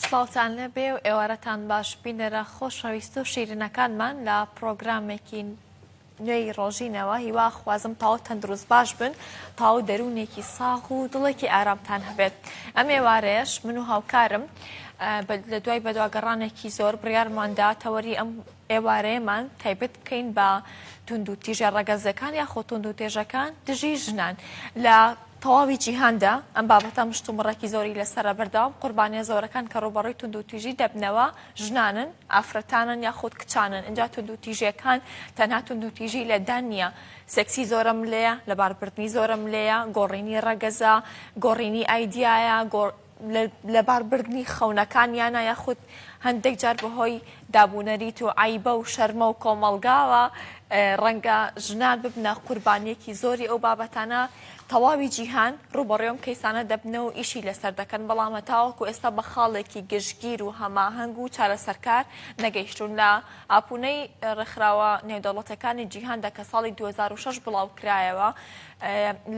سڵاوتان لەبێ و ئێوارەتان باش بینەرە خۆشەویست و شیرنەکانمان لە پرۆگرامێکی نوێی ڕۆژینەوە هیوا خوازم تاو تەندروست باش بن تاو دەروونێکی ساغ و دڵێکی ئارامتان هەبێت ئەم ێوارەیەش من و هاوکارم لە دوای بەدواگەڕانێکی زۆر بڕارماندا تەوەری ئەم ئێوارەیەمان تایبەت بکەین بە توندوتیژە ڕەگەزیەکان یاخۆ توندوتێژەکان دژی ژنان لە تەواوی جیهاندا ئەم بابەتە مشتومڕێکی زۆری لەسرە بەردەوام قوربانیە زۆرەکان کە ڕوبەڕوی تونند و تیژی دەبنەوە ژنانن ئافرەتانن یا خودت کچانن اینجا تونند و تیژەکان تەنها تونند و تیژی لەدان نییە سەکسی زۆرە ملەیە لەباربردنی زۆرە ملەیە گۆڕینی ڕەگەزە گۆڕینی ئایدایە لەبار بردنی خەونەکانیانە یاخود هەندێک جار بەهۆی دابوونەریت و عیبە و شەرمە و کۆمەڵگاوە ڕەنگە ژنان ببنە قوربانیەکی زۆری ئەو بابەتانە تەواوی جیهان ڕوبەڕێوم کەیسانە دەبنە و ئیشی لەسەر دەکەن بەڵامە تاوەکو ئێستا بە خاڵێکی گشتگیر و هەماهەنگ و چارەسەرکار نەگەیشتون لە ئاپونەی ڕێکخراوە نێودەوڵەتەکانی جیهاندا کە ساڵی 2006 بڵاو کرایەوە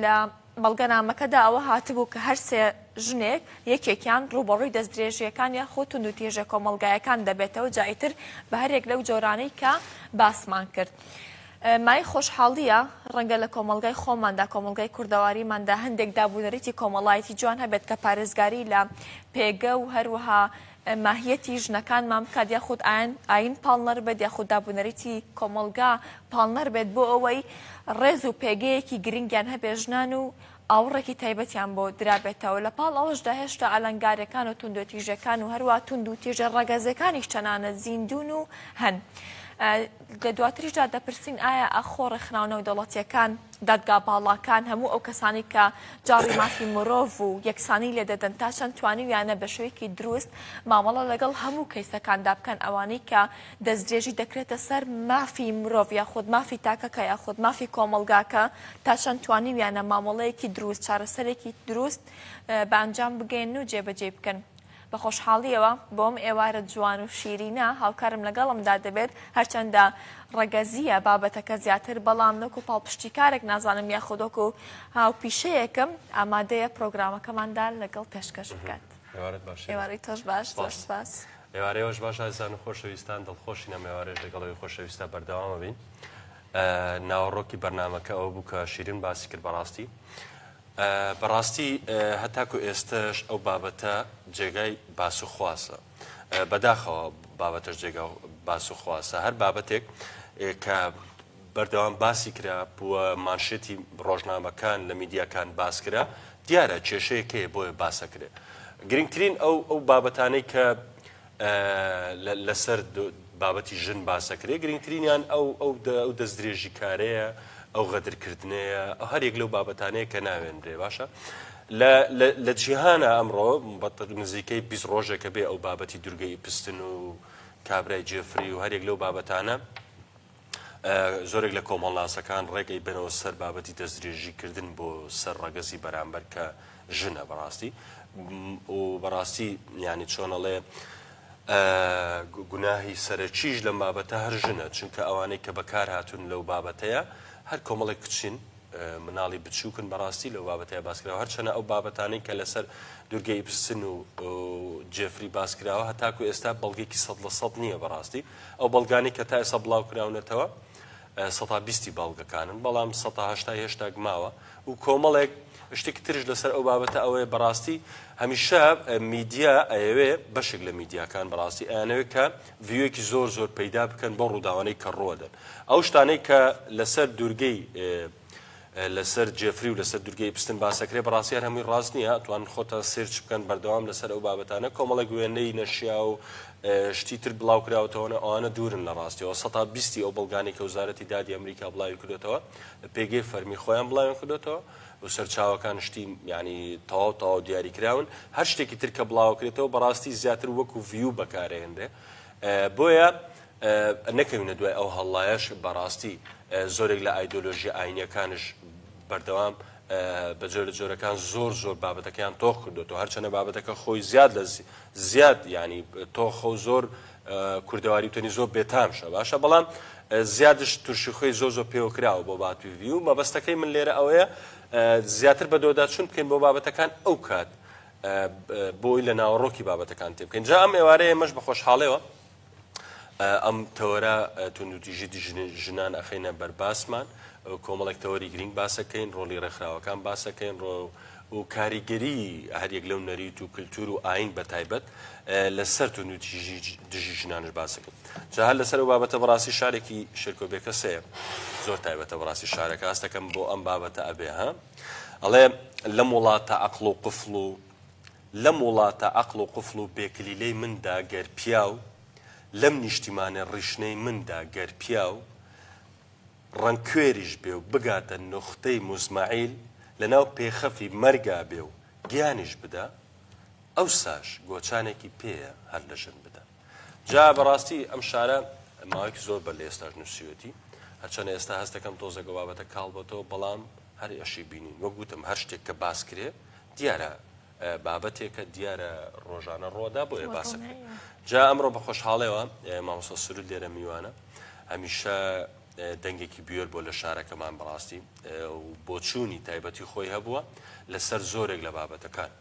لە بەڵگەنامەکەدا ئەوە هاتبوو کە هەر سێ ژنێک یەکێکیان ڕووبەڕووی دەستدرێژییەکان یاخۆ توندوتیژە کۆمەڵگایەکان دەبێتەوە جا ئیتر بە هەریەک لەو جۆرانەی کە باسمان کرد مای خۆشحاڵییە ڕەنگە لە کۆمەلگای خۆماندا کۆمەلگای کوردەواریماندا هەندێک دابوونەریتی کۆمەڵایەتی جوان هەبێت کە پارێزگاری لە پێگە و هەروەها ماهیەتی ژنەکانمان بکات یاخود ئاین پاڵنەر بێت یاخود دابونەریتی کۆمەڵگا پاڵنەر بێت بۆ ئەوەی ڕێز و پێگەیەکی گرنگیان هەبێ ژنان و ئاوڕێکی تایبەتیان بۆ درابێتەوە لە پاڵ ئەوەشدا هێشتا ئەلەنگارەکان و توندوتیژەکان و هەروە توند و تیژە ڕەگەزەکانیش تەنانەت زیندون و هەن. لە دواتریشدا دەپرسین ئایا ئاخۆ ڕێکخراوە نێودەوڵەتییەکان، دادگا باڵاکان، هەموو ئەو کەسانەی کە جاڕی مافی مرۆڤ و یەکسانی لێ دەدەن تا چەند توانیویانە بە شێوەیەکی دروست مامەڵە لەگەڵ هەموو کەیسەکاندا بکەن ئەوانەی کە دەستدرێژی دەکرێتە سەر مافی مرۆڤ یاخود مافی تاکەکە یاخود مافی کۆمەڵگاکە تا چەند توانیویانە مامەڵەیەکی دروست چارەسەرێکی دروست بە ئەنجام بگەیەنن و جێبەجێی بکەن؟ بە خۆشحاڵییەوە بۆم ئێوارە جوان و شیرینە هاوکارم لەگەڵمدا دەبێت، هەرچەندە ڕەگەزییە بابەتەکە زیاتر، بەڵام نەکو پاڵپشتیکارێک نازانم یاخود وەکو هاوپیشەیەکم ئامادەیە پرۆگرامەکەماندا لەگەڵ پێشکەش بکات. ئێوارەت باش شێرکۆ. ئێوارەی تۆش باش، زۆر سوپاس. ئێوارەی ئێوەش باش ئازیزان و خۆشەویستان، دڵخۆشین ئەم ئێوارەیەش لەگەڵ ئێوەی خۆشەویستدا بەردەوام ئەبین. ناوەڕۆکی بەرنامەکە ئەوە بوو کە شیرین باسی کرد بەڕاستی، بەڕاستی هەتاکو ئێستەش ئەو بابەتە جێگای باس و خواسە. بەداخەوە بابەتەش جێگا باس و خواسە. هەر بابەتێک کە بەردەوام باسی کرا و مانشێتی ڕۆژنامەکان لە میدیاکان باس کرا، دیارە کێشەیەک هەیە بۆیە باسەکرێ. گرنگترین ئەو ئەو بابەتانەی کە لەسەر بابەتی ژن باسەکرێ گرنگترینیان ئەو ئەو دەستدرێژی کارەیە ئەو غەدرکردنەیە ئەو هەرێک لەو بابەتانەیە کە ناوێنرێ باشە لە جیهانە ئەمڕۆ بەتر نزیکەی بیست ڕۆژێکە بێ ئەو بابەتی دورگەی پستن و کابرای جێفری و هەرێک لەو بابەتانە زۆرێک لە کۆمەڵناسەکان ڕێگەی بەرەوە سەر بابەتی دەستدرێژی کردن بۆ سەر ڕەگەزی بەرامبەر کە ژنە بەڕاستی و بەڕاستی ینی چۆنەڵێ گوناهی سەرەکیش لەم بابەتە هەر ژنە چونکە ئەوانەی کە بەکار هاتوون لەو بابەتەیە هەر کۆمەڵێک کچین مناڵی بچوکن بەڕاستی لەو بابەتای باسکراوە هەرچەنە ئەو بابەتانەی کە لەسەر دورگە ئیپسن و جێفری باسکراوە هەتاکو ئێستا بەڵگێکی سەد لە سەد نییە بەڕاستی ئەو بەڵگانی کە تا ئێستا بڵاو کراونەتەوە سەتا بیستی بەڵگەکانن بەڵام سەتا هشتا هێشتا گماوە و کۆمەڵێک شتێکی ترش لەسەر ئەو بابەتە ئەوەیە بەڕاستی هەمیشە میدیا ئەیەوێ بەشێک لە میدیاکان بەڕاستی ئەیانەوێت کە ڤیوێکی زۆر زۆر پەیدا بکەن بەو ڕووداوانەی کە ڕوەدەن ئەو شتانەی کە لەسەر دوورگەی لەسەر جێفری و لەسەر دوورگەی پستن باسەکرێ بەڕاستی هەر هەمووی ڕاست نییە توان خۆتان سێرچ بکەن بەردەوام لەسەر ئەو بابەتانە کۆمەڵە گوێنەی نەشیا و شتی تر بڵاو کراوەتەوەە ئەوانە دوورن لە ڕاستیەوە سەتا بیستی ئەو بەڵگانی کە وزارەتی دادی ئەمریکا بڵاوی کردوێتەوە پێگەی فەرمی خۆیان بڵاویان کردوێتەوە و سەرچاوەکان شتی یانی تەواو تەواو دیاری کراون هەر شتێکی تر کە بڵاوکرێتەوە بەڕاستی زیاتر وەکو ڤیو بەکارێنرێ بۆیە نەکەوینە دوای ئەو هەڵلایەش بەڕاستی زۆرێک لە ئایدۆلۆژی ئاینیەکانش بەردەوام بە جۆر لە جۆرەکان زۆر زۆر بابەتەکەیان تۆخ کردوەوە هەرچەنە بابەتەکە خۆی زیاد لە زیاد ینی تۆخە و زۆر کوردەواری وتەنی زۆر بێتامشە باشە بەڵام زیادش ترشی خۆی زۆ زۆ پێوەکراوە بۆ باتووی و مەبەستەکەی من لێرە ئەوەیە زیاتر بە دۆدا چون بکەین بۆ بابەتەکان ئەو کات بۆی لە ناوەڕۆکی بابەتەکان تێ بکەین جا ئەم ئێوارەیە مەش بە خۆشحاڵەوە ئەم تەوەرە توندوتیژی ژنان ئەخینە بەرباسمان کۆمەڵێک تەوەری گرنگ باسەکەین ڕۆلی ڕێکخراوەکان باسەکەین ڕۆ و کاریگەریی هەریەک لەو نەریت و کلتور و ئایین بەتایبەت لەسەر توندوتیژی دژی ژنانش باس دەکەین جا هەر لەسەر ئەو بابەتە بەڕاستی شارێکی شێرکۆ بێکەس هەیە زۆر تایبەتە بەڕاستی شارەکە هەست دەکەم بۆ ئەم بابەتە ئەبێ ها ئەڵێ لەم وڵاتە عەقڵ و قفڵ و لەم وڵاتە عەقڵ و قفڵ و بێکلیلەی مندا گەر پیاو لەم نیشتیمانە ڕیشنەی مندا گەر پیاو ڕەنگکوێریش بێ و بگاتە نوختەی موزمەعیل، لەناو پێخەفی مەرگا بێ و گیانیش بدا، ئەوساش گۆچانێکی پێیە هەر لە ژن بدا. جا بەڕاستی ئەم شارە ماوەیەکی زۆر بەر لە ئێستاش نووسیوەتی، هەرچەنە ئێستا هەست دەکەم تۆزێک ئەو بابەتە کاڵ بۆتەوە، بەڵام هەر ئەشی بینین. وەک وتم هەر شتێک کە باس کرێ، دیارە بابەتێکە دیارە ڕۆژانە ڕۆدا بۆیە باسەکە جا ئەمڕۆ بە خۆشحاڵەوە مامۆستا سرود لێرە میوانە هەمیشە دەنگێکی بێر بۆ لە شارەکەمان بەڕاستی بۆچوونی تایبەتی خۆی هەبووە لەسەر زۆرێک لە بابەتەکان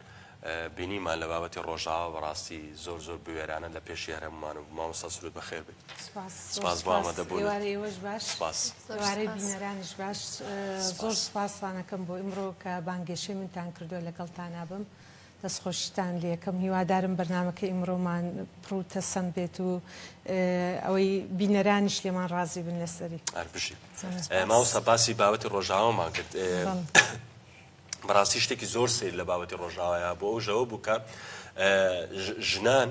بینیمان لە بابەتی ڕۆژاوە بەڕاستی زۆر زۆر بوێرانە لە پێشی هەرممان و مامۆستا سرود بەخێر بێت سپاس سپاس بۆ ئامادەبوونت. سپاس ئێوارەی ئێوەش باش. سپاس. ئێوارەی بینەرانیش باش. سپاس. زۆر سپاستان ئەکەم بۆ ئیمڕۆ کە بانگێشەی منتان کردووە لەگەڵتانا بم. دەستخۆشیتان لێ ئەکەم. هیوادارم بەرنامەکەی ئیمڕۆمان پڕ و تەسەم بێت و ئەوەی بینەرانیش لێمان ڕازی بن لەسەری. هەر بژیت. زۆر سپاس. مامۆستا باسی بابەتی ڕۆژئاوامان کرد. بەڵێ. بەڕاستی شتێکی زۆر سیر لە بابەتی ڕۆژاوایە بۆ ئەو ژەوە بوو کە ژنان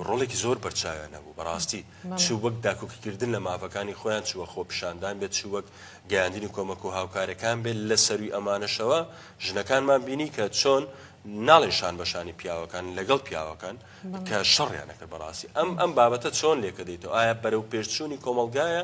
ڕۆڵێکی زۆر بەرچاویان نەبوو بەڕاستی چ وەک داکوکیکردن لە ماڤەکانی خۆیان چوە خۆپشاندان بێت چ وەک گەیاندنی کۆمەک و هاوکارەکان بێت لە سەروی ئەمانەشەوە ژنەکانمان بینی کە چۆن ناڵێشان بەشانی پیاوەکان لەگەڵ پیاوەکان کە شەڕیانەکە بەڕاستی ئەم ئەم بابەتە چۆن لێکە دەیتەوە ئایا بەرەو پێشچوونی کۆمەلگایە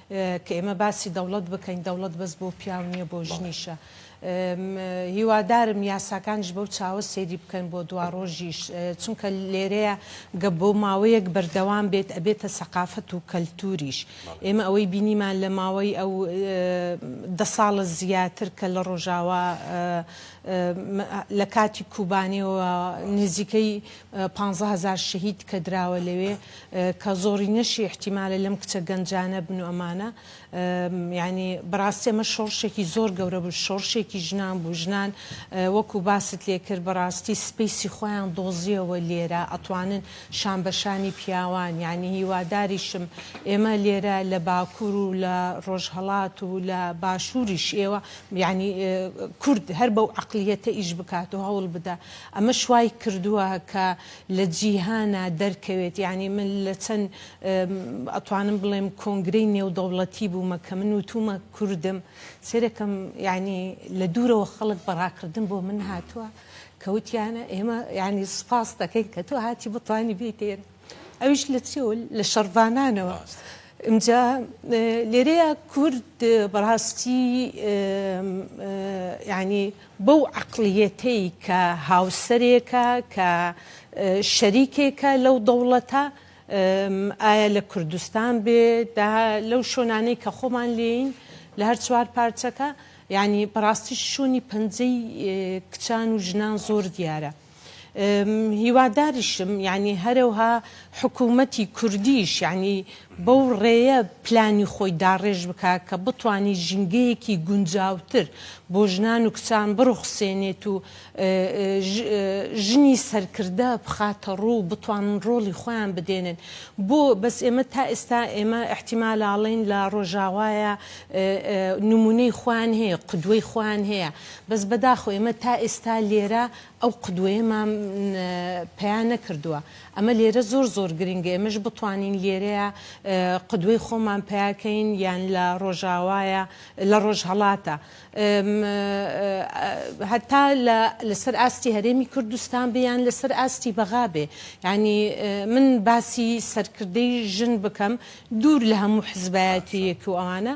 کە ئێمە باسی دەوڵەت بکەین دەوڵەت بەس بۆ پیاو نیە بۆ ژنیشە هیوادارم یاساکانش بەو چاوە سەیری بکەن بۆ دواڕۆژیش چونکە لێرەیە گە بۆ ماوەیەک بەردەوام بێت ئەبێتە سەقافەت و کەلتوریش ئێمە ئەوەی بینیمان لە ماوەی ئەو دە ساڵە زیاتر کە لە ڕۆژاوا لە کاتی کوبانیەوە نزیکەی 15هزار شەهید کە دراوە لەوێ کە زۆرینەشی ئیحتیمالە لەم کچە گەنجانە بن و ئەمانە یانی بەڕاستی ئەمە شۆڕشێکی زۆر گەورە بوو شۆڕشێکی ژنان بوو ژنان وەکو باست لێ کرد بەڕاستی سپیسی خۆیان دۆزیەوە لێرە ئەتوانن شان بە شانی پیاوان یانی هیواداریشم ئێمە لێرە لە باکور و لە ڕۆژهەڵات و لە باشوریش ئێوە یانی کورد هەر بەو عەقلیەتە ئیش بکات و هەوڵ بدا ئەمەش وای کردوە کە لە جیهانا دەرکەوێت یانی من لە چەن ئەتوانم بڵێم کۆنگرەی نێودەوڵەتی بوومە کە من وتومە کوردم سەیرەکەم یانی لە دوورەوە خەڵک بە ڕاکردن بۆ من هاتووە کە وتیانە ئێمە یانی سپاس دەکەین کە تۆ هاتی بتوانی بێیتە ئێرە ئەویش لە چێوە لە شەڕڤانانەوە ئمجا لێرەیە کورد بەڕاستی یانی بەو عەقڵیەتەی کە هاوسەرێکە کە شەریکێکە لەو دەوڵەتە ئایا لە کوردستان بێ دا لەو شۆنانەی کە خۆمان لێین لە هەر چوار پارچەکە یانی بەڕاستی شۆنی پەنجەی کچان و ژنان زۆر دیارە هیواداریشم یانی هەرەوها حکوومەتی کوردیش یانی بەو ڕێیە پلانی خۆی داڕێژ بکا کە بتوانی ژینگەیەکی گونجاوتر بۆ ژنان و کچان بڕوخسێنێت و ژنی سەرکردە بخاتە ڕوو و بتوانن ڕۆڵی خۆیان بدێنن بۆ بەس ئێمە تا ئێستا ئێمە ئیحتیمالاڵێین لە ڕۆژاوایە نموونەی خۆیان هەیە قدوەی خۆیان هەیە بەس بەداخەوە ئێمە تا ئێستا لێرە ئەو قدوەیەمان پەیا نەکردووە ئەمە لێرە زۆر زۆر گرنگە ئێمەش بتوانین لێرەیە قدوەی خۆمان پەیاکەین یان لە ڕۆژاوایە لە ڕۆژهەڵاتە هەتا لەسەر ئاستی هەرێمی کوردستان بێ یان لەسەر ئاستی بەغا بێ یعنی من باسی سەرکردەی ژن بکەم دوور لە هەموو حزبایەتیەک و ئەوانە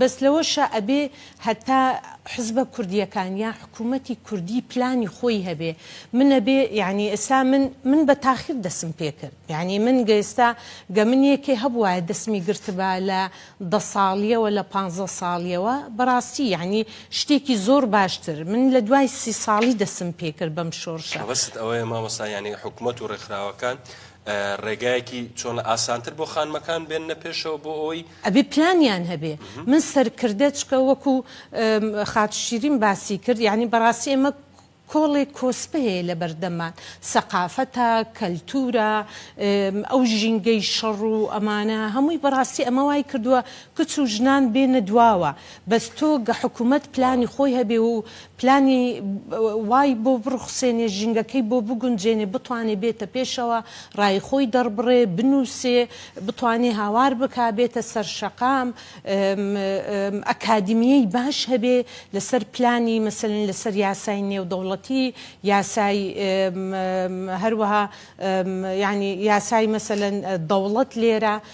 بەس لەوەشا ئەبێ هەتا حزبە کوردیەکان یان حکومەتی کوردی پلانی خۆی هەبێ من ئەبێ یانی ئێستا من من بە تاخیر دەسم پێ کرد یانی من گە ئێستا گە من یەکێ هەبوایە دەسمی گرتبا لە دە ساڵیەوە لە پانزە ساڵیەوە بەراستی یانی شتێکی زۆر باشتر من لە دوای سی ساڵی دەسم پێ کرد بەم شۆرشە. مەبەستت ئەوەیە مامۆستا یانی حکومەت و ڕێکخراوەکان ڕێگایەکی چۆنە ئاسانتر بۆ خانمەکان بێننە پێشەوە بۆ ئەوەی. ئەبێ پلانیان هەبێ من سەرکردە چکە وەکو خاتو شیرین باسی کرد یانی بەڕاستی ئێمە کۆڵێک کۆسپە هەیە لەبەردەممان سەقافەتە کەلتورە ئەو ژینگەی شەڕ و ئەمانە هەمووی بەڕاستی ئەمە وای کردوە کچ و ژنان بێنە دواوە بەس تۆ گە حکومەت پلانی خۆی هەبێ و پلانی وای بۆ بڕوخسێنێ، ژینگەکەی بۆ بگونجێنێ، بتوانێ بێتە پێشەوە، ڕای خۆی دەڕبڕێ، بنووسێ، بتوانێ هاوار بکا، بێتە سەر شەقام، ئەکادیمییەی باش هەبێ لەسەر پلانی مەسەلەن لەسەر یاسای نێودەوڵەتی، یاسای هەروەها یانی یاسای مەسەلەن دەوڵەت لێرە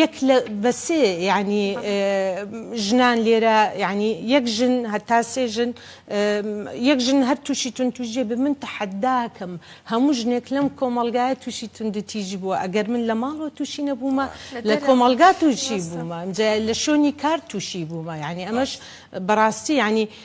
یەک لە بە سێ یانی ژنان لێرە یانی یەک ژن هەتا سێ ژن یەک ژن هەر تووشی تونتوژێ بە من تەحەداکەم هەموو ژنێک لەم کۆمەلگایە تووشی توندتیژی بووە ئەگەر من لە ماڵەوە تووشی نەبوومە لە کۆمەلگا تووشی بوومە جا لە شوێنی کار تووشی بوومە یعنی ئەمەش بەڕاستی یعنی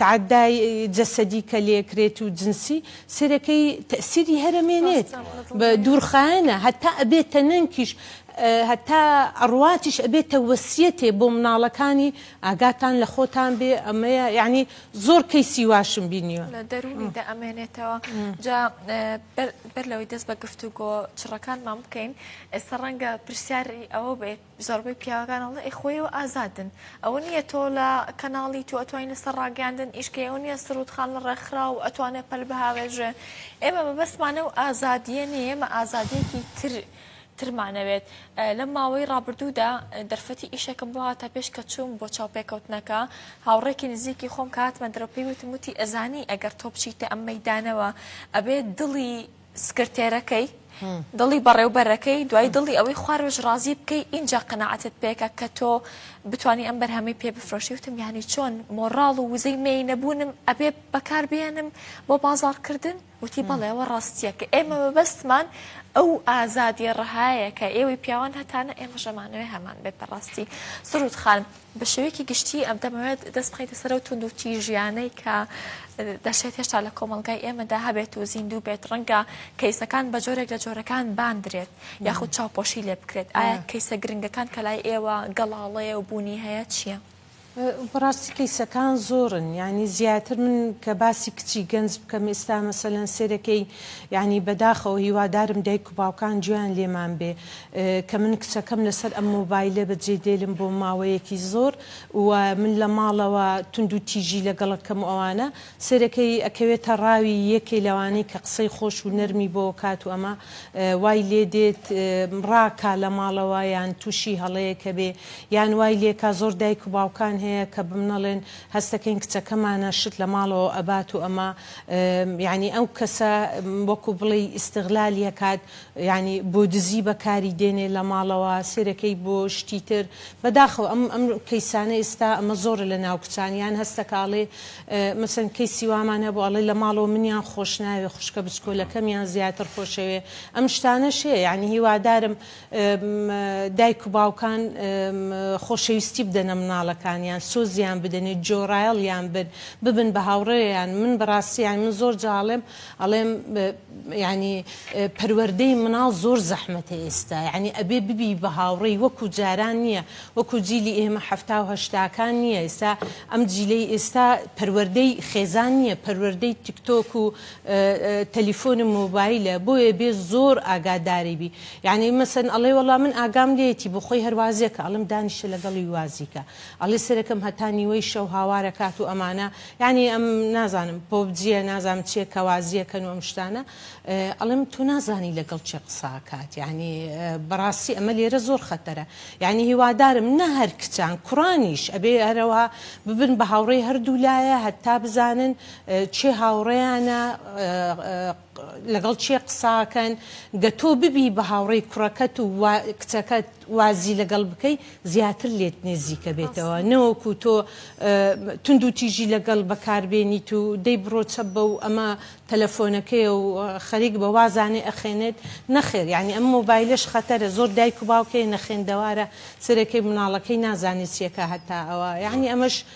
تەعەدای جەسەدی کە لێکرێت و جنسی سەرەکەی تەئسیری هەرە مێنێت بە دوورخایەنە هەتا ئەبێتە نەنکیش هەتا ئەڕواتیش ئەبێتە وەسیەتێ بۆ مناڵەکانی ئاگاتان لە خۆتان بێ ئەمەیە یانی زۆر کەیسی واشم بینیوە. لە دەروونی دە ئەمێنێتەوە جا بەر لەوەی دەست بە گفتوگۆ چڕەکانمان بکەین ئێستا ڕەنگە پرسیاری ئەوە بێت زۆربەی پیاوەکان ئەڵێ ئەی خۆ ئێوە ئازادن ئەوە نیە تۆ لە کەناڵی تو ئەتوانی لەسەر ڕاگەیاندن ئیش کەی ئەوە نیە سرود خان لە ڕێکخراو ئەتوانێ پەل بهاوێژێ ئێمە مەبەستمانە ئەو ئازادیە نیە ئێمە ئازادیەکی تر ترمانەوێت لەم ماوەی ڕابردوودا دەرفەتی ئیشەکەم بۆ هاتە پێش کە چووم بۆ چاوپێکەوتنەکە هاوڕێکی نزیکی خۆم کاتمە درۆپی وتم وتی ئەزانی ئەگەر تۆ بچیتە ئەم مەدانەوە ئەبێت دڵی سکرتێرەکەی دڵی بەڕێوبەرەکەی دوای دڵی ئەوەی خوارۆژ ڕازی بکەی ئینجا قەنەعەتت پێکە کە تۆ بتانی ئەم بەرهەمی پێ بفرۆشی وتم یانی چۆن مۆڕاڵ و وزەی مێی نەبوونم ئەبێ بەکار بێنم بۆ بازاڕکردن وتی بەڵێەوە ڕاستیە کە ئێمە مەبەستمان ئەو ئازادیە ڕەهایە کە ئێوەی پیاوان هەتانە ئێمە ژەمانەوەی هەمان بێت بەڕاستی سرود خان. بە شێوەیەکی گشتی ئەم دەمەوێت دەست بخەیتە سەرەو توند و تیژیانەی کە دەشێت هێشتا لە کۆمەلگای ئێمەدا هەبێت و زیندوو بێت ڕەنگە کەیسەکان بە جۆرێک لە جۆرەکان باندرێت یاخود چاوپۆشی لێ بکرێت ئایا کەیسە گرنگەکان کە لای ئێوە گەڵاڵەیە و بوونی هەیە چییە؟ بەڕاستی کەیسەکان زۆرن یعنی زیاتر من کە باسی کچی گەنج بکەم ئێستا مەسەلەن سێرەکەی یعنی بەداخەوە هیوادارم دایک و باوکان جویان لێمان بێ کە من کچەکەم لەسەر ئەم مۆبایلە بە جێ دێلم بۆ ماوەیەکی زۆر و من لە ماڵەوە توند و تیژی لەگەڵ ئەکەم و ئەوانە سەیرەکەی ئەکەوێتە ڕاوی یەکێ لەوانەی کە قسەی خۆش و نەرمی بۆ کات و ئەمە وای لێ دێت ڕاکا لە ماڵەوە یان توشی هەڵەیەکە بێ یان وای لێکا زۆر دایک و باوکان هەیە کە بمنەڵێن هەستەکەین کچەکەمانە شت لە ماڵەوە ئەبات و ئەمە یانی ئەو کەسە وەکو بڵێی ئیستغلالی ئەکات یانی بۆ دزی بەکاری دێنێ لە ماڵەوە سێرەکەی بۆ شتی تر بەداخەوە ئەم ئەم کەیسانە ئیستا ئەمە زۆرە لە ناو کچان یان هەستە کە ئەڵێ مەسەن کەیسی وامان هەبوو ئەڵێ لە ماڵەوە منیان خۆش ناوێ خوشکە بچکۆلەکەم یان زیاتر خۆشەوێ ئەم شتانەش هەیە یانی هیوادارم دایک و باوکان خۆشەویستی بدەنە مناڵەکانیان سۆزیان بدەنێ جۆرایەڵیان بن ببن بە هاوڕێیان من بەڕاستی یانی من زۆر جاڵێم ئەڵێم یانی پەروەردەی مناڵ زۆر زەحمەتە ئێستا یانی ئەبێ ببی بە هاوڕێی وەکو جاران نییە وەکو جیلی ئێمە حەفتا و هەشتاکان نییە ئێستا ئەم جیلەی ئێستا پەروەردەی خێزان نییە پەروەردەی تیکتۆک و تەلیفۆنی مۆبایلە بۆیە بێ زۆر ئاگاداری بی یعنی مەسەن ئەڵێ وەڵام من ئاگام لێتی بۆ خۆی هەروازێکە ئەڵم دانیشە لەگەڵی وازیکە ئەڵێ سەرەکەم هەتا نیوەی شەو هاوارەکات و ئەمانە یانی ئەم نازانم پۆبجیە نازانم چیە کەوازیە کەن و ئەم شتانە ئەڵێم تۆ نازانی لەگەڵ چێ قساکات یانی بەڕاستی ئەمە لێرە زۆر خەتەرە یانی هیوادارم نە هەر کچان کوڕانیش ئەبێ هەرەوە ببن بە هاوڕێی هەردوو لایە هەتا بزانن چێ هاوڕێیانە لەگەڵ کێ قساکەن گە تۆ ببی بە هاوڕێی کوڕەکەت و وا کچەکەت وازی لەگەڵ بکەی زیاتر لێت نێزیکە بێتەوە نەوەکو تۆ توند و تیژی لەگەڵ بەکاربێنیت و دەی بڕۆ چە بە و ئەمە تەلەفۆنەکەیە و خەریک بە وازانێ ئەخێنێت نەخێر یانی ئەم مۆبایلەش خەتەرە زۆر دایک و باوکێ نەخێندەوارە سەرەکەی مناڵەکەی نازانێ چیەکە هەتا ئەوە یانی ئەمەش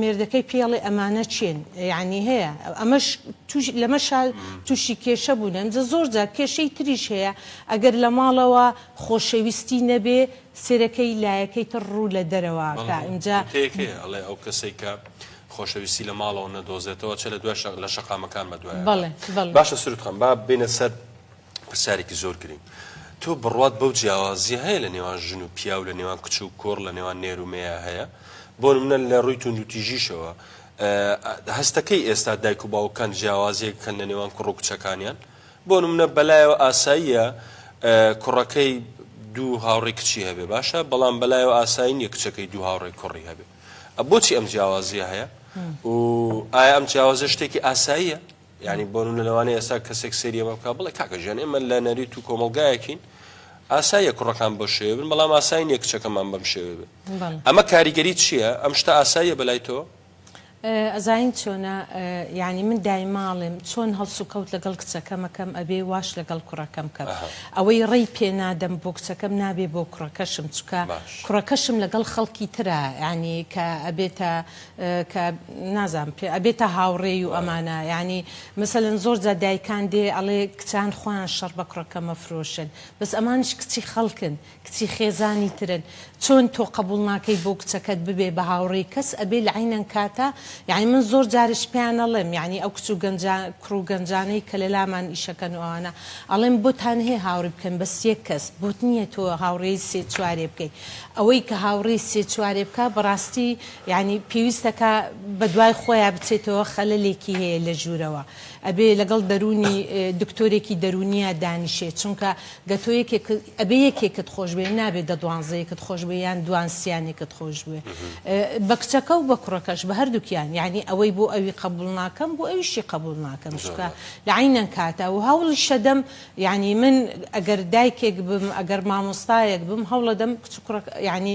مێردەکەی پێڵێ ئەمانە چێن یعنی هەیە ئەمەش لەمەشا تووشی کێشە بوونن جە زۆر جار کێشەی تریش هەیە ئەگەر لە ماڵەوە خۆشەویستی نەبێ سێرەکەی لایەکەی تر ڕوو لە دەرەوەکە ئینجا ئەڵێ ئەو کەسێک کە خۆشەویستی لە ماڵەوە نەدۆزێتەوە چ لە دوای لە شەقامەکان بە دوای بەڵێ باشە سرود خان با بینە سەر پرسیارێکی زۆر گرنگ تۆ بڕوات بەو جیاوازیە هەیە لە نێوان ژن و پیاو لە نێوان کچ و کۆڕ لە نێوان نێرومەیە هەیە بۆ منە لە ڕووی توندوتیژیشەوە هەستەکەی ئێستا دایک و باوکان جیاوازیەک کەن لە نێوان کوڕ و کچەکانیان بۆ منە بەلایەوە ئاساییە کوڕەکەی دوو هاوڕێ کچی هەبێ باشە بەڵام بەلایەوە ئاسایی نیە کچەکەی دوو هاوڕێ کوڕی هەبێ بۆچی ئەم جیاوازیە هەیە و ئایا ئەم جیاوازە شتێکی ئاساییە یانی بۆنمونە لەوانەیە ئێستا کەسێک سەیری ئەمە بکات بڵێ کاکە گیان ئێمە لە نەریت و کۆمەڵگایەکین ئاساییە کوڕەکان بەو شێوێ بن بەڵام ئاسایی نیە کچەکەمان بەم شێوێ بێ ئەمە کاریگەری چییە ئەم شتە ئاساییە بەلای تۆ ئەزانین چۆنە یعنی من دایماڵێم چۆن هەڵسوکەوت لەگەڵ کچەکەمەکەم ئەبێ واش لەگەڵ کوڕەکەم کەم ئەوەی ڕێی پێ نادەم بۆ کچەکەم نابێ بۆ کوڕەکەشم چکە کوڕەکەشم لەگەڵ خەڵکی ترا ینی کە ئەبێتە کە نازانم پێ ئەبێتە هاوڕێی و ئەمانە یانی مەسەلەن زۆر جار دایکان دێ ئەڵێ کچان خۆیان شەڕ بە کوڕەکە مەفرۆشن بەس ئەمانیش کچی خەڵکن کچی خێزانی ترن چۆن تۆ قەبوڵ ناکەی بۆ کچەکەت ببێ بە هاوڕێی کەس ئەبێ لە عەینەن کاتە یانی من زۆر جاریش پێیان ئەڵێم یانی ئەو کچ و گەنجا کوڕ و گەنجانەی کە لە لامان ئیشەکەن و ئەوانە ئەڵێم بۆتان هەیە هاوڕی بکەن بەس یەک کەس بۆت نییە تۆ هاوڕێی سێ چوارێ بکەی ئەوەی کە هاوڕێی سێ چوارێ بکا بەڕاستی یانی پێویستە کە بەدوای خۆیا بچێتەوە خەلەلێکی هەیە لە ژوورەوە ئەبێ لەگەڵ دەروونی دکتۆرێکی دەروونیا دانیشێ چونکە گە تۆ یەکێک ئەبێ یەکێکت خۆش بوێ نابێ دە دوانزەیەکت خۆش بوێ یان دوان سیانێکت خۆش بوێ بە کچەکە و بە کوڕەکەش بە هەردووکیان یانی ئەوەی بۆ ئەوی قەبوول ناکەم بۆ ئەویشی قەبوول ناکەم چونکە لە عەینەن کاتە و هەوڵیشەدەم یانی من ئەگەر دایکێک بم ئەگەر مامۆستایەک بم هەوڵەدەم کچ و کوڕەکە یانی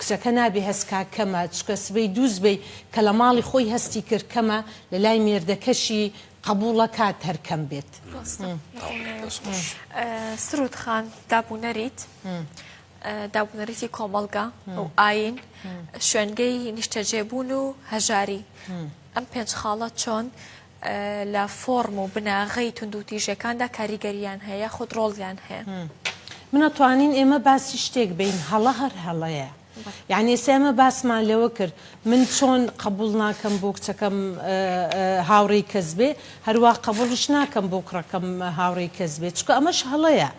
کچەکە نابێ هەست کا کەمە چکە سبەی دوو سبەی کە لە ماڵی خۆی هەستی کرد کەمە لە لای مێردەکەشی قەبووڵە کات هەر کەم بێت. ڕاستە دەست خۆش. سرود خان داب و نەریت داب و نەریتی کۆمەڵگا و ئاین شوێنگەی نیشتەجێبوون و هەژاری ئەم پێنج خاڵە چۆن لە فۆڕم و بناغەی توندوتیژیەکاندا کاریگەریان هەیە یاخود ڕۆڵیان هەیە؟ من ئەتوانین ئێمە باسی شتێک بین هەڵە هەر هەڵەیە یعنی ئێستا ئێمە باسمان لەوە کرد من چۆن قبول ناکەم بۆ کچەکەم هاوڕێی کەس بێ هەروە قبوڵش ناکەم بۆ کوڕەکەم هاوڕێی کەس بێ چکە ئەمەش هەڵەیە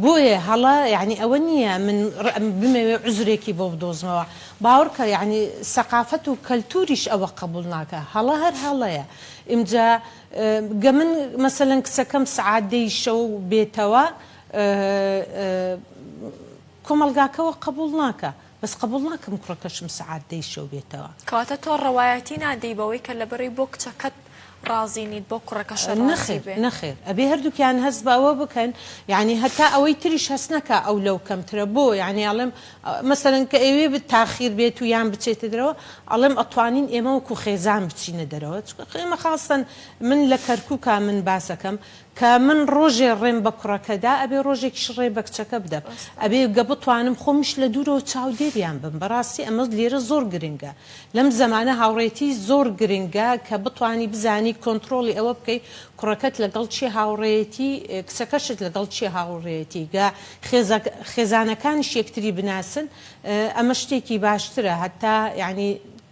بۆیە هەڵە یانی ئەوە نیە من بمەوێ عوزرێکی بۆ بدۆزمەوە باوەڕکە یانی سەقافەت و کەلتوریش ئەوە قەبوڵ ناکا هەڵە هەر هەڵەیە ئمجا گە من مەسەلەن کچەکەم سەعات دەی شەو بێتەوە کۆمەڵگاکەوە قەبوڵ ناکا. بەس قەبوڵ ناکەم کوڕەکەشم سەعات دەی شەو بێتەوە. کەواتە تۆ ڕەوایەتی نادەی بەوەی کە لەبری بۆ کچەکەت ڕازی نیت بۆ کوڕەکەشە ڕازی بێ. نەخێر نەخێر ئەبێ هەردووکیان هەست بە ئەوە بکەن یانی هەتا ئەوەی تریش هەست نەکا ئەو لەو کەمترە بۆ یانی ئەڵێم مەسەلەن کە ئەیوێ تاخیر بێت و یان بچێتە دەرەوە ئەڵێم ئەتوانین ئێمە وەکو خێزان بچینە دەرەوە چونکە ئێمە خاستەن من لە کەرکوکا من باسەکەم کە من ڕۆژێ ڕێم بە کوڕەکە دا ئەبێ ڕۆژێکیش ڕێ بە کچەکە بدەم ئەبێ گە بتوانم خۆمیش لە دوورەوە چاودێریان بم بەڕاستی ئەمە لێرە زۆر گرنگە لەم زەمانە هاوڕێتی زۆر گرنگە کە بتوانی بزانی کۆنتڕۆڵی ئەوە بکەی کوڕەکەت لەگەڵ کێ هاوڕێیەتی کچەکەشت لەگەڵ کێ هاوڕێیەتی گە خێزە خێزانەکانیش یەکتری بناسن ئەمە شتێکی باشترە هەتا یانی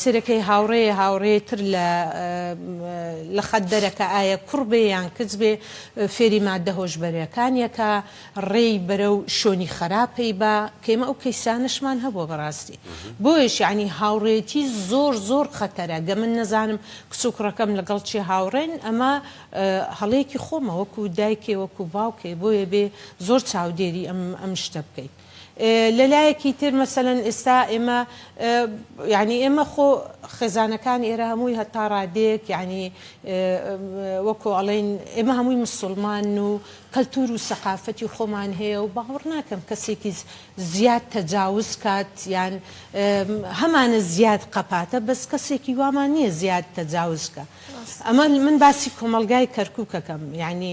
سرەکەی هاوڕێیە هاوڕێی تر لە لە خەت دەرە کە ئایە کوڕ بێ یان کچ بێ فێری مادە هۆشبەرەکانیە کا ڕێی بەرەو شۆنی خەراپەی با کەیمە ئەو کەیسانەشمان هەبوە بەڕاستی بۆیش یانی هاوڕێتی زۆر زۆر خەتەرە گە من نەزانم کچ و کوڕەکەم لەگەڵ چێ هاوڕێن ئەمە هەڵەیەکی خۆمە وەکو دایکێ وەکو باوکێ بۆیە بێ زۆر چاودێری ئەم ئەم شتە بکەیت. لە لایەکی تر مەسەلەن ئێستا ئێمە یانی ئێمە خۆ خێزانەکان ئێرە هەمووی هەتا ڕادێک یانی وەکۆ ئەڵین ئێمە هەمووی مسلمان و کەلتور و سەقافەتی خۆمان هەیە و باوەڕ ناکەم کەسێکی زیاد تەجاوز کات یان هەمانە زیاد قەپاتە بەس کەسێکی وامان نییە زیاد تەجاوزکە ئەمە من باسی کۆمەلگای کەرکووکەکەم یعنی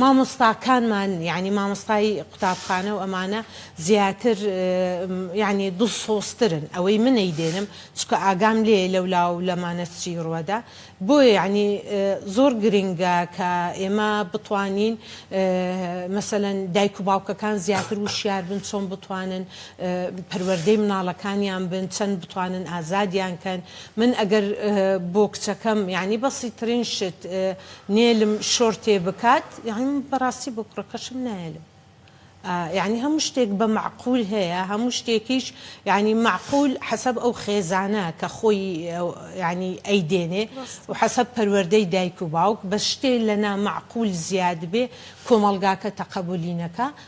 مامۆستاکانمان یانی مامۆستای قوتابخانە و ئەمانە زیاتر یانی دڵسۆزترن ئەوەی من نەیدێنم چونکە ئاگام لێیە لەولا و لەمانە چی ڕوەدا بۆیە یانی زۆر گرینگە کە ئێمە بتوانین مەسەلەن دایک و باوکەکان زیاتر وشیار بن چۆن بتوانن پەروەردەی مناڵەکانیان بن چەند بتوانن ئازادیان کەن من ئەگەر بۆ کچەکەم یانی بەسیترین شت نێلم شۆرتێ بکات یانی من بەڕاستی بۆ کوڕەکەشم نایەلم یانی هەموو شتێک بە مەعقول هەیە هەموو شتێکیش یانی مەعقول حەسەب ئەو خێزانە کە خۆی یانی ئەیدێنێ و حەسەب پەروەردەی دایک و باوک بەس شتێ لە نامەعقول زیاد بێ کۆمەڵگاکە تەقەبولی نەکا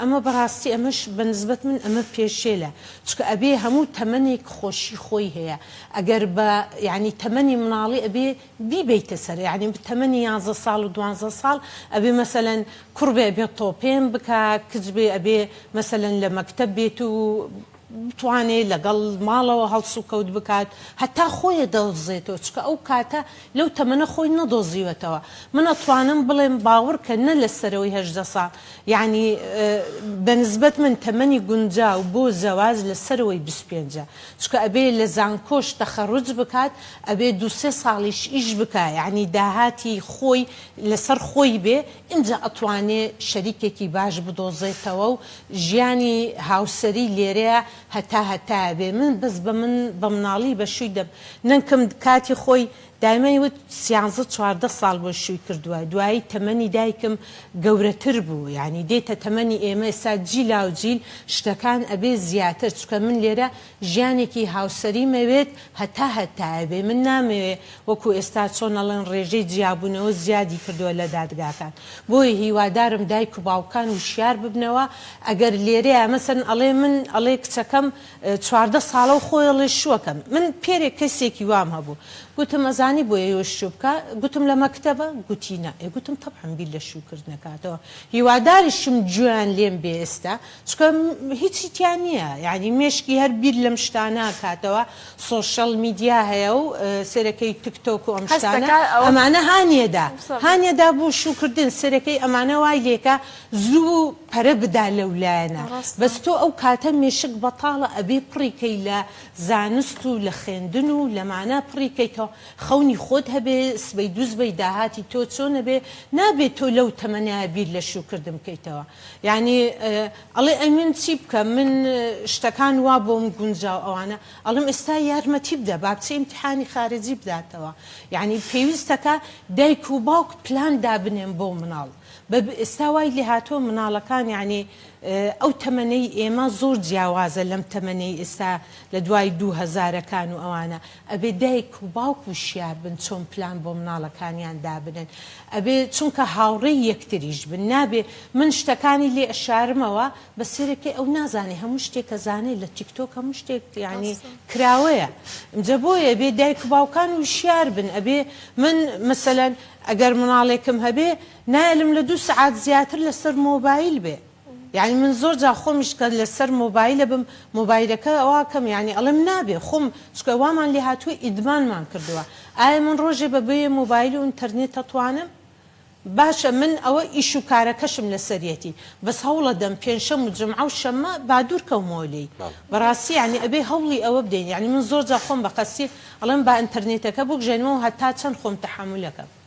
ئەمە بەڕاستی ئەمەش بە نسبەت من ئەمە پێشێلە چکە ئەبێ هەموو تەمەنێک خۆشی خۆی هەیە ئەگەر بە یانی تەمەنی مناڵی ئەبێ بیبەیتە سەر یانی تەمەنی یانزە ساڵ و دوانزە ساڵ ئەبێ مەسەلەن کوڕ بێ ئەبێ تۆپێن بکا کچ بێ ئەبێ مەسەلەن لە مەکتەب بێت و بتوانێت لەگەڵ ماڵەوە هەڵسوکەوت بکات هەتا خۆێ دەدۆزێتەوە چکە ئەو کاتە لەو تەمەنە خۆی نەدۆزیوەتەوە من ئەتوانم بڵێم باوڕکە نە لە سەرەوەی هەژدە ساڵ یانی بە نسبەت من تەمەنی گونجاو بۆ زەواج لە سەرەوەی بیست و پێنج چکە ئەبێ لە زانکۆش تەخەروج بکات ئەبێ دوو سێ ساڵیش ئیش بکا یانی داهاتی خۆی لەسەر خۆی بێ ئینجا ئەتوانێ شەریکێکی باش بدۆزێتەوە و ژیانی هاوسەری لێرەیە هەتا هەتایە بێ من بەس بە من بە مناڵی بە شووی دە نکم کاتی خۆی دایمەی وت سیانزە چواردە ساڵ بۆی شووی کردوە دوایی تەمەنی دایکم گەورە تر بوو یانی دێتە تەمەنی ئێمە ئێستا جیلاو جیل شتەکان ئەبێ زیاتر چکە من لێرە ژیانێکی هاوسەری مەوێت هەتا هەتایە بێ من نامەوێ وەکو ئێستا چۆن ئەڵێن ڕێژەی جیابونەوە زیادی کردوە لە دادگاکان بۆیە هیوادارم دایک و باوکان وشیار ببنەوە ئەگەر لێرەیا مەسەلەن ئەڵێ من ئەڵێ کچەکەم چواردە ساڵە و خۆی ئەڵێ شوەکەم من پێرێ کەسێکی وام هەبو گوتم ئەزانی بۆ ئێوە شو بکا گوتم لە مەکتەبە گوتی نا ئێ گوتم تەبعەن بیر لە شوکردنەکاتەوە هیواداریشم جوێیان لێم بێ ئێستا چکە هیچی تیا نییە یعنی مێشکی هەر بیر لەم شتاناکاتەوە سۆشل میدیا هەیە و سەرەکەی تکتۆک و ئەم شتانە ئەمانە هاانیەدا هاانیەدا بوو شوکردن سەرەکەی ئەمانە وای لێکە زوو و پەرە بدا لەو لایەنە بەس تۆ ئەو کاتە مێشک بەتاڵە ئەبێ پڕیکەی لە زانست و لە خوێندن و لەمانە پڕیکەیتەوە خەونی خۆت هەبێ سبەی دووسبەی داهاتی تۆ چۆنەبێ نابێت تۆ لەو تەمەنە بیر لە شوکردن بکەیتەوە یانی ئەڵێ ئەی من چی بکەم من شتەکان وا بۆم گونجا و ئەوانە ئەڵێم ئێستا یارمەتی بدە با بچێ ئیمتیحانی خارجی بداتەوە یانی پێویستەکە دایک و باوک پلان دابنێن بۆ مناڵ بە ئێستا وای لێهاتووە مناڵەکان یانی ئەو تەمەنەی ئێمە زۆر جیاوازە لەم تەمەنەی ئێستا لە دوای دوو هەزارەکان و ئەوانە ئەبێ دایک و باوک وشیار بن چۆن پلان بۆ مناڵەکانیان دابنێن ئەبێ چونکە هاوڕێی یەکتریش بن نابێ من شتەکانی لێ ئەشارمەوە بەس سەیرە کەی ئەو نازانێ هەموو شتێک ئەزانێ لە تیکتۆک هەموو شتێک یانی کراوەیە ئینجا بۆیە ئەبێ دایک و باوکان وشیار بن ئەبێ من مەسەلەن ئەگەر مناڵێکم هەبێ نایەلم لە دوو سەعات زیاتر لەسەر مۆبایل بێ یانی من زۆر جار خۆمیش کە لە سەر مۆبایلە بم مۆبایلەکە وا کەم یانی ئەڵێم نابێ خۆم چکە وامان لێ هاتووە ئیدمانمان کردووە ئایا من ڕۆژێ بە بێ مۆبایل و ئینتەرنێت تەتوانم باشە من ئەوە ئیش و کارەکەشم لە سەریەتی بەس هەوڵە دەم پێنشەم و جمعە و شەمە بادوور کەومەوە لێی بەڕاستی یانی ئەبێ هەوڵی ئەوە بدەین یانی من زۆر جا خۆم بە قەستی ئەڵێم با ئینتەرنێتەکە بوکژێنمەوە هەتا چەند خۆم تەحەمولەکەم.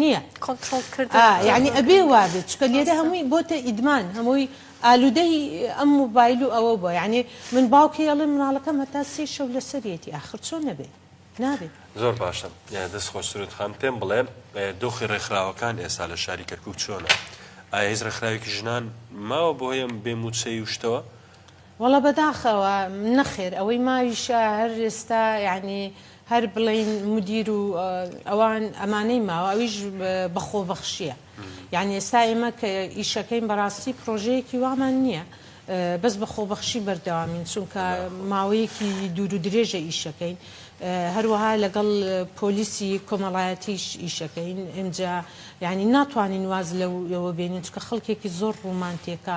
نیە کۆنترۆڵ کردن ئا یەعنی ئەبێ وابێت چونکە لێرە ڕاستە هەمووی بۆتە ئیدمان هەمووی ئالوودەی ئەم موبایل و ئەوە بووە یەعنی من باوکی ئەڵێم مناڵەکەم هەتا سێی شەو لەسەریەتی ئاخر چۆن نەبێ نابێ. زۆر باشە دەست خۆش سرود خان پێم بڵێ دۆخی ڕێکخراوەکان ئێستا لە شاری کەرکوک چۆنە ئایا هیچ ڕێکخراوێکی ژنان ماوە بۆ هەیەم بێ مووچەی و شتەوە وەڵا بەداخەوە نەخێر ئەوەی ماویشە هەر ئێستا یانی هەر بڵێین مدیر و ئەوان ئەمانەی ماوە ئەویش بە خۆبەخشیە یعنی ئێستا ئێمە کە ئیشەکەین بەڕاستی پرۆژەیەکی وامان نییە بەس بە خۆبەخشی بەردەوامین چونکە ماوەیەکی دوور و درێژە ئیشەکەین هەروەها لەگەڵ پۆلیسی کۆمەڵایەتیش ئیشەکەین ئەجا یعنی ناتوانین واز لەوە بێنین چکە خەڵکێکی زۆر ڕوومانتێکە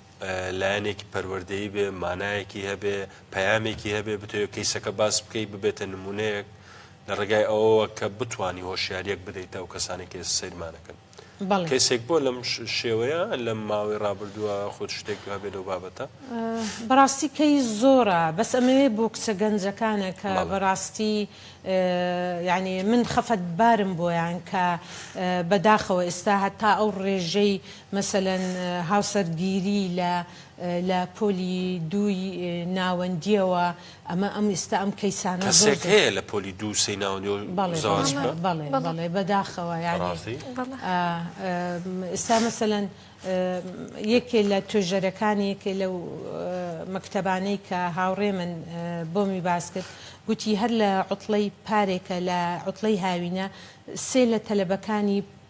لایەنێکی پەروەردەیی بێ، مانایەکی هەبێ، پەیامێکی هەبێ، بتەوێ کەیسەکە باس بکەی ببێتە نمونەیەک لە ڕێگای ئەوەوە کە بتانی هۆشیاریەک بدەیتە ئەو کەسانی کە ئێستا سەیرمانەکەن. بەڵێ. کەسێک بۆ لەم ش- شێوەیە لەم ماوەی ڕابردووە خۆت شتێک هەبێ لەو بابەتە؟ بەڕاستی کەیس زۆرە، بەس ئەمەوێ بۆ کچە گەنجەکانە کە بەڵێ. بەڕاستی یانی من خەفەتبارم بۆیان کە بەداخەوە ئێستا هەتا ئەو ڕێژەی مەسەلەن هاوسەرگیری لە لە پۆلی دووی ناوەندییەوە ئەمە ئەم ئیستا ئەم کەیسانە زۆر کەسێک هەیە لە پۆلی دوو سێی ناوەندیەوە بەڵێ زەواج بەڵێ بکا؟ بەڵێ بەڵێ بەڵێ بەداخەوە یانی بەڕاستی؟ ئا ئیستا مەسەلەن یەکێ لە توێژەرەکانی یەکێ لەو مەکتەبانەی کە هاوڕێمن بۆمی باس کرد گوتی هەر لە عوتڵەی پارێکە لە عوتڵەی هاوینە سێ لە تەلەبەکانی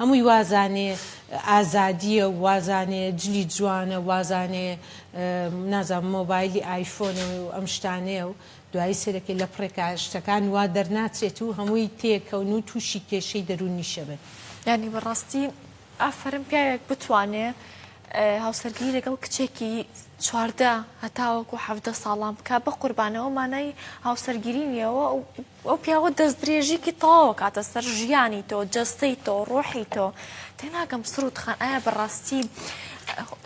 هەمووی وازانێ ئازادیە و وازانێ جلی جوانە وازانێ نازانم مۆبایلی ئایفۆنە و ئەم شتانەیە و دوایی سەیرەکەی لەپڕێکا شتەکان وا دەرناچێت و هەمووی تێکەون و تووشی کێشەی دەروونیشە بن. یانی بەڕاستی ئافەرم پیاوێک بتوانێ هاوسەرگیری لەگەڵ کچێکی چواردە هەتاوەکو حەڤدە ساڵان بکا بەقوربان ئەوە مانای هاوسەرگیری نیە ئەوە و ئەو پیاوە دەستدرێژیکی تەواو ئەکاتە سەر ژیانی تۆ جەستەی تۆ ڕۆحی تۆ تێناگەم سرود خان ئایا بەڕاستی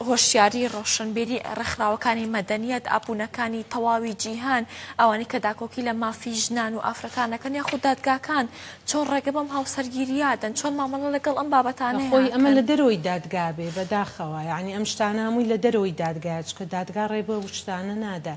هۆشیاری ڕۆشنبیری ڕێکخراوەکانی مەدەنیەت ئابوونەکانی تەواوی جیهان ئەوانی کە داکۆکی لە مافی ژنان و ئافرەتانەکەن یا خود دادگاکان چۆن ڕێگە بەم هاوسەرگیریادەن چۆن مامەڵە لەگەڵ ئەم بابەتانە خۆی ئەمە لە دەرەوەی دادگا بێ بەداخەوە یعنی ئەم شتانە هەمووی لە دەرەوەی دادگایە چکە دادگا ڕێ بەو شتانە نادا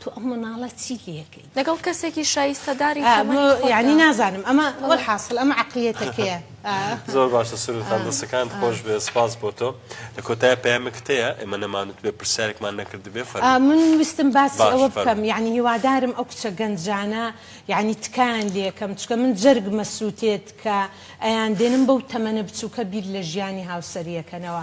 تۆ ئەو مناڵە چی لەکەی لەگەڵ کەسێکی شایستەداری یعنی نازانم ئەمە وەل حاصل ئەمە عقلیەتەکەیە زۆر باشە سروتان دەسەکان خۆش بێ سپاس بۆ تۆ لە کۆتای پامێک تەیە ئێمە نەمانوت بێ پرسیارێکمان نەکرد بێ فەر من ویستم باسی ئەوە بکەم یعنی هیوادارم ئەو کچە گەنجانە یعنی تکان لەکەم چکە من جەرگ مەسووتێت کە ئەیان دێنم بەو تەمەنە بچووکە بیر لە ژیانی هاوسەریەکەنەوە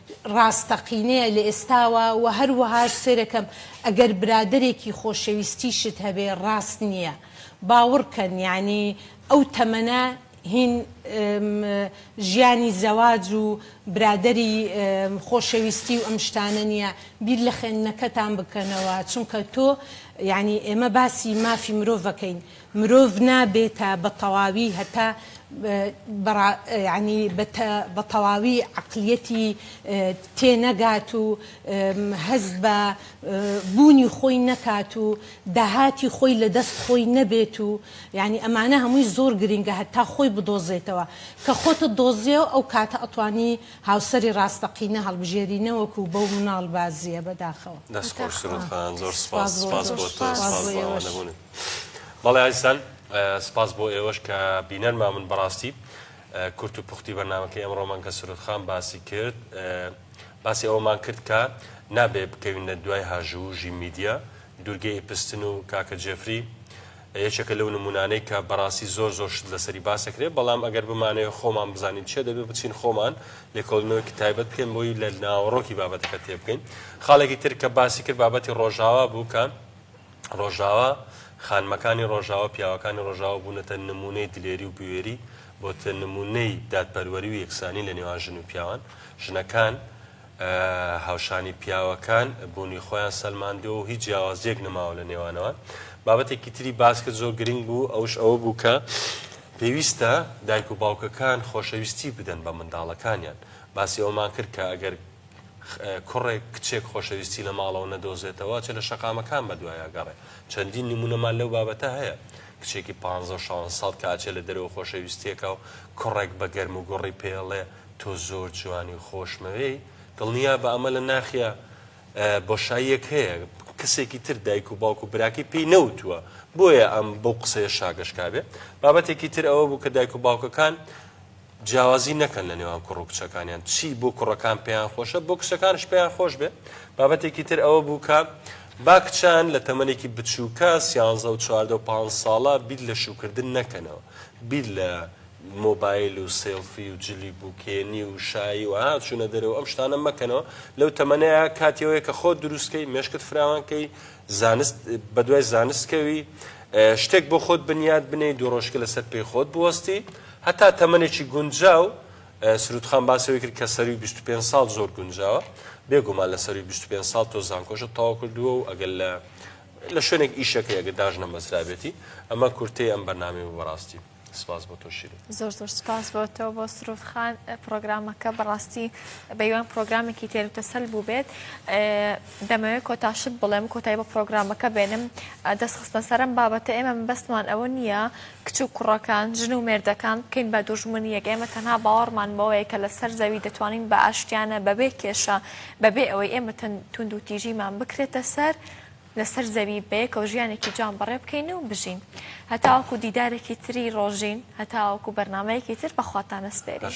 ڕاستەقینەیە لە ئێستاوە وە هەروەهاش سەیرەکەم ئەگەر برادەرێکی خۆشەویستیشت هەبێ ڕاست نیە باوڕکەن یەعنی ئەو تەمەنە هین م ژیانی زەواج و برادەری م خۆشەویستی و ئەم شتانە نیە بیر لە خوێندنەکەتان بکەنەوە چونکە تۆ یەعنی ئێمە باسی مافی مرۆڤەکەین مرۆڤ نابێتە بە تەواوی هەتا بەڕا یەعنی بەتە بە تەواوی عەقلیەتی تێ نەگات و هەست بە بوونی خۆی نەکات و داهاتی خۆی لە دەست خۆی نەبێت و یەعنی ئەمانە هەمووی زۆر گرینگە هەتا خۆی بدۆزێتەوە کە خۆتت دۆزیەوە ئەو کاتە ئەتوانی هاوسەری ڕاستەقینە هەڵبژێری نەوەکو بەو مناڵ بازیە بەداخەوە. دەست خۆش سرود خان زۆر سوپاس سوپاس بۆ تۆ سوپاس بۆ ئەوەنەبوونت. بەڵێ ئازیزان سپاس بۆ ئێوەش کە بینەر مامن بەڕاستی کورت و پوختی بەنامەکە ئەمڕۆمان کە سرود خان باسی کرد باسی ئەومان کرد کە نابێ بکەوینە دوای هاژوو ژی میدیا دوورگەی ئیپستن و کاکە جێفری یەکێکە لەو نمونانەی کە بەڕاستی زۆر زۆر شت لەسەری باسەکرێ بەڵام ئەگەر بمانەیە خۆمان بزانین چێ دەبێ بچین خۆمان لێکۆڵنەوەکی تایبەت بکەین بۆی لە ناوەڕۆکی بابەتەکە تێبکەین خاڵێکی تر کە باسی کرد بابەتی ڕۆژاوا بوو کە ڕۆژاوا، خانمەکانی ڕۆژاوا، پیاوەکانی ڕۆژاوا بوونەتە نموونەی دلێری و بوێری، بۆتە نموونەی دادپەروەری و یەکسانی لە نێوان ژن و پیاوان، ژنەکان هاوشانی پیاوەکان بوونی خۆیان سەلماندووە و هیچ جیاوازییەک نەماوە لە نێوانەوان. بابەتێکی تری باس کرد زۆر گرنگ بوو ئەوش ئەوە بوو کە پێویستە دایک و باوکەکان خۆشەویستی بدەن بە منداڵەکانیان، باسی ئەوەمان کرد کە ئەگەر کوڕێک، کچێک خۆشەویستی لە ماڵەوە نەدۆزێتەوە، ئەچێت لە شەقامەکان بەدوای ئەگەڕێ. چەندین نموونەمان لەو بابەتە هەیە. کچێکی پانزە و شانزە ساڵ کە ئەچێت لە دەرەوە خۆشەویستییەکە و کوڕێک بە گەرموگوڕی پێی ئەڵێ، تۆ زۆر جوانی و خۆشمەوێی، دڵنیابە ئەمە لە ناخیا بۆشاییەک هەیە، کەسێکی تر دایک و باوک و براکەی پێی نەوتووە، بۆیە ئەم بەو قسەیە شاگەشکابێ. بابەتێکی تر ئەوە بوو کە دایک و باوکەکان، جیاوازی نەکەن لە نێوان کوڕ و کچەکانیان چی بۆ کوڕەکان پێیان خۆشە بۆ کچەکانش پێیان خۆش بێ بابەتێکی تر ئەوە بوو کە با کچان لە تەمەێکی بچووکە سیانزە و چواردە و پ ساڵە بیر لە شوکردن نەکەنەوە بیر لە مۆبایل و سێلفی و جلی بووکێنی و شایی و هاچوونە دەرەوە ئەم شتانە مەکەنەوە لەو تەمەەیە کاتیەوەی کە خۆ دروستکەی مشکت فراوانکەی زانست بەدوای زانستکەوی شتێک بۆ خۆت بنیاد بنەی دوو ڕۆژکە لەسەر پێی خۆت بوەستی هەتا تەمەنێکی گونجاو، سرودخان باسی ئەوەی کرد کە سەرووی بیست و پێنج ساڵ زۆر گونجاوە، بێگومان لە سەرووی بیست و پێنج ساڵ تۆ زانکۆشت تەواو کردووە و ئەگەر لە لە شوێنێک ئیشەکەی ئەگەر داژنەمەزرابێتی، ئەمە کورتەی ئەم بەرنامەی بوو بەڕاستی. سپاس بۆ تۆ شیرین. زۆر زۆر سپاس بۆ تۆ بۆ سرود خان پرۆگرامەکە بەڕاستی بەیوان پرۆگرامێکی تێروتەسەل بوو بێت دەمەوێت کۆتاشت بڵێم کۆتای بە پرۆگرامەکە بێنم دەست خستە سەرم بابەتە ئێمە بەستمان ئەوە نییە کچ و کوڕەکان، ژن و مێردەکان بکەین بە دوژمنییەک، ئێمە تەنها باوەڕمان بەوەیە کە لەسەر زەوی دەتوانین بە ئاشتیانە، بەبێ کێشە، بەبێ ئەوەی ئێمە توندوتیژیمان بکرێتە سەر، لەسەر زەوی بەیەکەوە ژیانێکی جوان بەڕێ بکەین و بژین. هەتاوەکو دیدارێکی تری ڕۆژین، هەتاوەکو بەرنامەیەکی تر بە خواتان ئەسپێرین.